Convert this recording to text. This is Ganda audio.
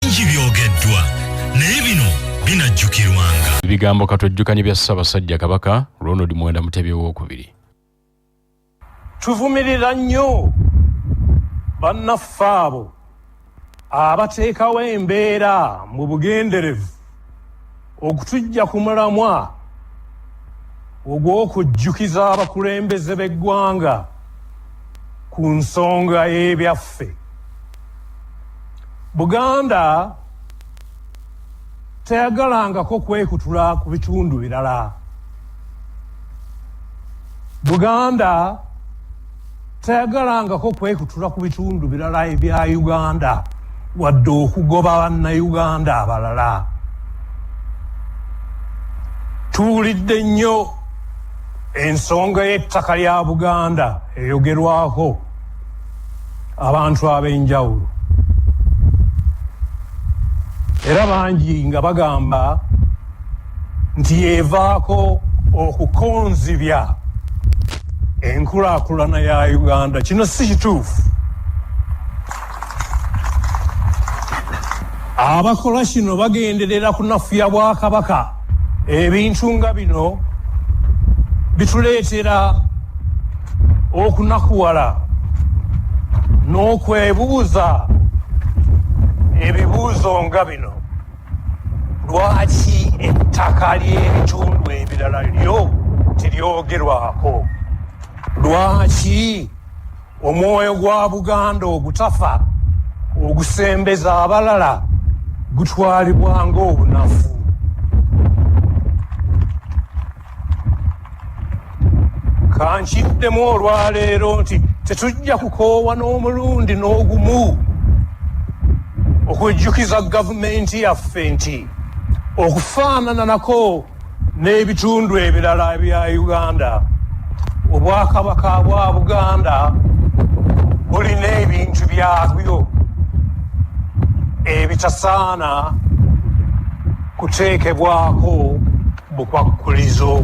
bingi byogeddwa naye bino binajjukirwanga ebigambo katwejjukanye bya ssabasajja kabaka ronald mwenda mutebi owokubiri tuvumirira nnyo bannaffe abo abateekawo embeera mu bugenderevu okutujja ku mulamwa ogw'okujjukiza abakulembeze b'eggwanga ku nsonga y'ebyaffe buganda teyagalangako kwekutula ku bitundu birala buganda teyagalangako kwekutula ku bitundu birala ebya uganda wadde okugoba bannauganda abalala tuwulidde nnyo ensonga y'ettaka lya buganda eyogerwako abantu ab'enjawulo era bangi nga bagamba nti yeevaako okukonzibya enkulaakulana ya uganda kino si kituufu abakola kino bagenderera kunafuya bwakabaka ebintu nga bino bituleetera okunakuwala n'okwebuuza ebibuuzo nga bino lwaki ettaka ly'ebitundu ebirala lyo teryogerwako lwaki omwoyo gwa buganda ogutafa ogusembeza abalala gutwalibwa ng'obunafu kankiddemu olwaleero nti tetujja kukoowa n'omulundi n'ogumu okujjukiza gavumenti yaffe nti okufaanananako n'ebitundu ebirala bya uganda obwakabaka bwa buganda bulina ebintu byabyo ebitasaana kuteekebwako bukwakkulizo.